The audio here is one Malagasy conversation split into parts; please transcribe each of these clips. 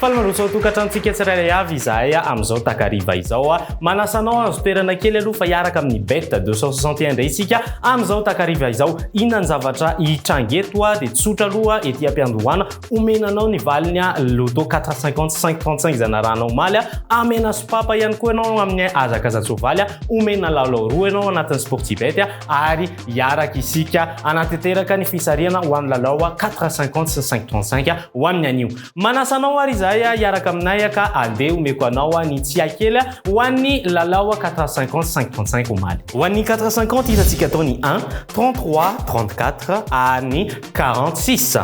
Faly mandroso ao tokantranontsika tsirairay avy izahay amin'izao takariva izao. Manasa anao hahazo toerana kely aloha fa hiaraka amin'ny Bet 261 indray isika amin'izao takariva izao. Inona ny zavatra hitranga eto? Dia tsotra aloha ety am-piandohana, omena anao ny valiny Loto 450 sy 535 izay narahana omaly. Amena sopapa ihany koa ianao amin'ny hazakazan-tsoavaly. Omena lalao roa ianao anatin'ny Sportibet ary hiaraka isika hanatanteraka ny fisarihana ho amin'ny lalao 450 sy ny 535 ho amin'ny anio. Manasa anao ary izahay hiaraka aminay ka andeha omeko anao ny tsiahy kely ho an'ny lalao quatre cinquante cinq trente cinq omaly. Ho an'ny quatre cinquante hitantsika atao ny un, trente trois, trente quatre ary ny quarante six.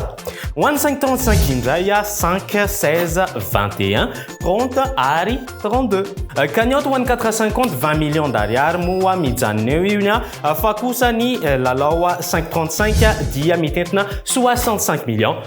Ho an'ny cinq trente cinq indray cinq, seize, vingt et un, trente ary trente deux. Cagnotte ho an'ny quatre cinquante vingt millions d'ariary moa mijanona eo io ny fa kosa ny lalao cinq trente cinq dia mitentina soixante cinq millions.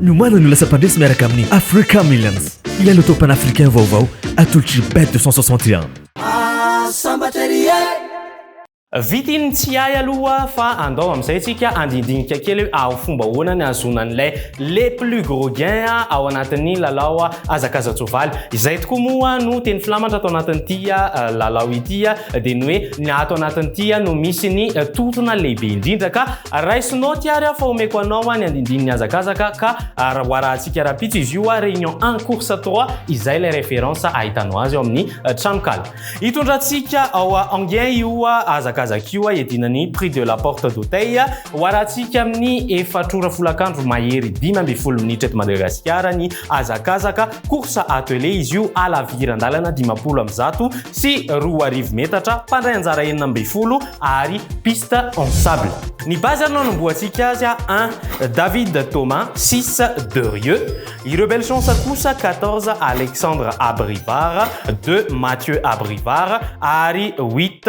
Niomana ny ho lasa mpandresy miaraka amin'ny Africa Millions ilay loto panafricain vaovao atolotry Bet 261. Vita iny ny tsy hay aloha fa andao amin'izay tsika handindinika kely hoe aho fomba ahoana ny ahazoana an'ilay les plus gros gains ao anatin'ny lalao hazakazan-tsoavaly. Izay tokoa moa no teny filamatra ato anatin'ity lalao ity dia ny hoe ny ato anatin'ity no misy ny tontona lehibe indrindra ka Raisinao ty ary aho fa omeko anao an ny andindininy hazakazaka ka raha hoarahantsika rahampitso izy io réunion un course trois izay ilay référence ahitanao azy ao amin'ny tranonkala hitondrantsika ao Enghien io hazakazaka io hiadiana ny prix de la porte d'hôteil hoarahantsika amin'ny efatr'ora folakandro mahery dimy ambin'ny folo minitra eto Madagasikara ny hazakazaka Course attelée izy io, halaviran-dalana dimampolo amby zato sy roa arivo metatra, mpandray anjara enina ambin'ny folo ary piste en sable. Ny base ary no hanombohantsika azy a un David Thomas, six Derieux, ireo belle chance kosa quatorze Alexandre Abrivard, deux Mathieu Abrivard ary huit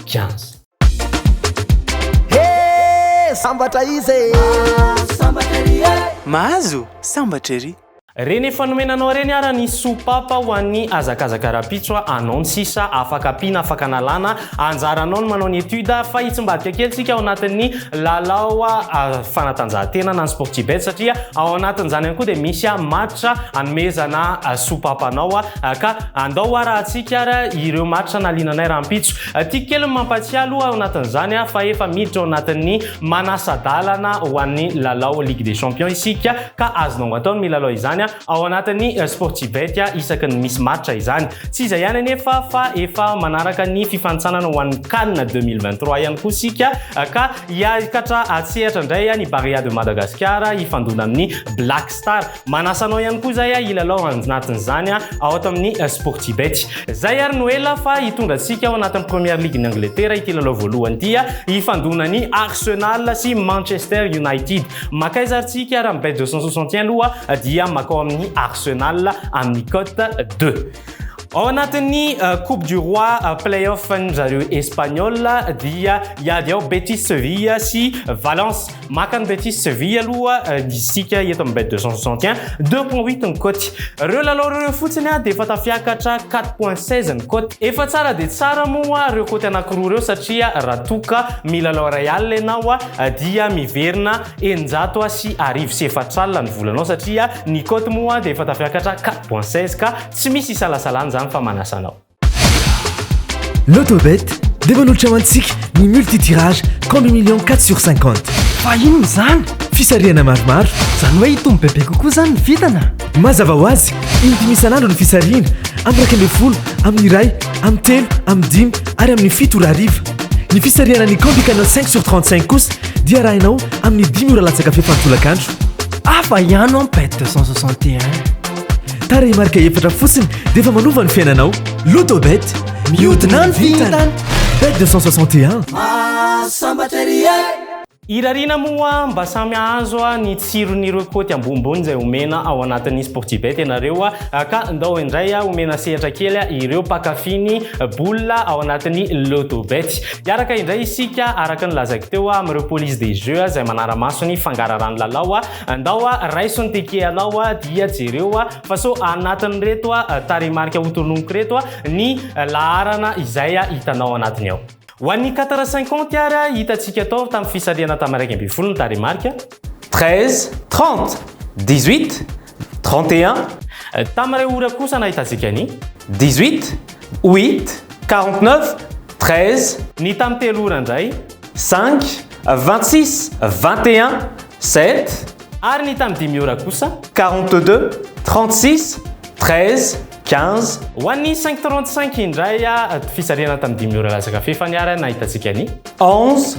Jazz. Hee sambatra izy e! Mahazo sambatra ery e! Mahazo sambatra ery! Reny efa nomena anao reny ara ny sopapa ho an'ny hazakazaka rapitso a anao ny sisa afaka ampiana afaka analana anjaranao ny manao ny étude fa hitsimbadika kely tsika ao anatin'ny lalao fanatanjahantena na ny sportibet satria ao anatin'izany ihany koa dia misy match anomezana sopapa anao Ka andao ara hatsiaka ara ireo maritra naliana anay rahampitso. Tiako kely ny mampatsiahy aloha ao anatin'izany fa efa miditra ao anatin'ny manasa-dalana ho an'ny lalao Ligue des Champions isika ka azonao atao ny milalao izany ao anatin'ny Sportibet isaky ny misy maritra izany. Tsy izay ihany anefa fa efa manaraka ny fifanintsanana ho an'ny Can deux mille vingt trois ihany koa isika ka hiakatra an-tsehatra indray ny Barea de Madagascar hifandona amin'ny Black Star. Manasa anao ihany koa zay hilalao anjnatin'izany ao ato amin'ny Sportibet. Zay ary no ela fa hitondra antsika ao anatin'ny Première Ligue-n'i Angletera ity lalao voalohany ity hifandona ny Arsenal sy Manchester United. Makaiza ary tsika raha mi-bet deux cent soixante et un aloha dia makao amin'ny Arsenal amin'ny cote deux. Ao anatin'ny Coupe du Roi Play-off-n'dry zareo Espagnols dia hiady ao Betis Sevilla sy Valence. Maka an'i Betis Séville aloha isika eto amin'ny bet 261, deux point huit ny cote. Ireo lalao ireo fotsiny dia efa tafiakatra quatre point seize ny cote. Efa tsara dia tsara moa ireo cote anankiroa ireo satria raha toa ka milalao iray alina ianao dia miverina eninjato sy arivo sy efatra alina ny volanao satria ny cote moa dia efa tafiakatra quatre point seize ka tsy misy isalasalana izany fa manasa anao. Lotobet dia manolotra ho antsika ny multitirage compte million 4 sur 50. Fa inona izany? Fisarihana maromaro. Izany hoe hitombo bebe kokoa izany ny vintana? Mazava ho azy, in-dimy isan'andro ny fisarihana, amin'ny iraika ambin'ny folo, amin'ny iray, amin'ny telo, amin'ny dimy ary amin'ny fito ora hariva. Ny fisarihana ny Combi Canal 5 sur 35 kosa dia arahinao amin'ny dimy ora latsaka fefany tolakandro. Hafa ihany an bet 261. Tarehimarika efatra fotsiny dia efa manova ny fiainanao. Lotobet, mihodina ny vintana. Bet 261. Mahasambatra ery e! Irariana moa mba samy hahazo ny tsiron'ireo kaoty ambonimbony izay omena ao anatin'ny Sportibet ianareo ka ndao indray omena sehatra kely ireo mpankafy ny boule ao anatin'ny Lotobet. Hiaraka indray isika araka ny lazaiko teo amin'ireo police des jeux izay manara-maso ny fangaraharahan'ny lalao. Andao a, raiso ny teke anao a, dia jereo a, fa sao anatin'ireto a tarehimarika hotononiko ireto a, ny laharana izay a hitanao anatiny ao. Ho an'ny quatre cinquante ary a, hitantsika tao tamin'ny fisarihana tamin'ny iraika ambin'ny folo ny tarehimarika. Treize, trente, dix-huit, trente et un. Tamin'iray ora kosa nahitantsika ny. Dix-huit, huit, quarante-neuf, treize. Ny tamin'ny telo ora indray. Cinq, vingt-six, vingt et un. Sept. Ary ny tamin'ny dimy ora kosa? Quarante deux, trente six, treize, quinze. Ho an'ny cinq trente cinq indray, fisarihana tamin'ny dimy ora latsaka fefany ary nahitantsika ny. Onze,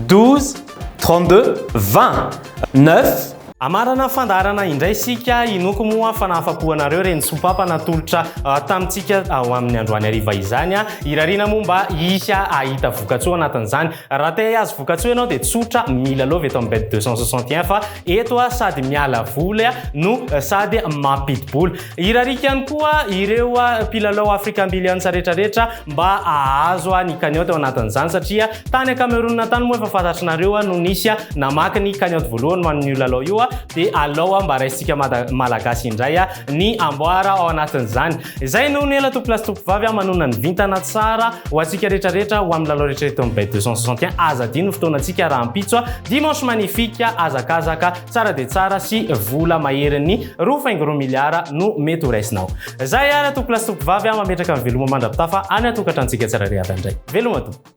douze, trente deux, vingt. Neuf. Amarana fandaharana indray isika, inoako moa fa nahafa-po anareo ireny sompapa natolotra tamintsika ho amin'ny androany hariva izany. Irariana moa mba hisy hahita vokatsoa anatin'izany. Raha te hihazo vokatsoa ianao dia tsotra, mila love eto amin'ny bet 261 fa eto a sady miala voly a no sady mampidi-bola. Irariako ihany koa ireo mpilalao African Billions retraretra mba ahazo a ny cagnotte ao anatin'izany satria tany a Cameroun tany moa efa fantatrinareo a no nisy a namaky ny cagnotte voalohany ho an'io lalao io a dia alao a mba raisintsika mada malagasy indray a ny amboara ao anatin'izany. Izay no nela tompolahy sy tompovavy a manonona ny vintana tsara ho antsika rehetra rehetra ho amin'ny lalao rehetra eto amin'ny bet 261 aza adino ny fotoanantsika rahampitso a dimanche magnifique hazakazaka tsara dia tsara sy vola maherin'ny roa faingo roa miliara no mety ho raisinao izay ary a tompolahy sy tompovavy a mametraka ny veloma mandra-pitafa any an-tokantranontsika tsirairay avy any indray veloma tompo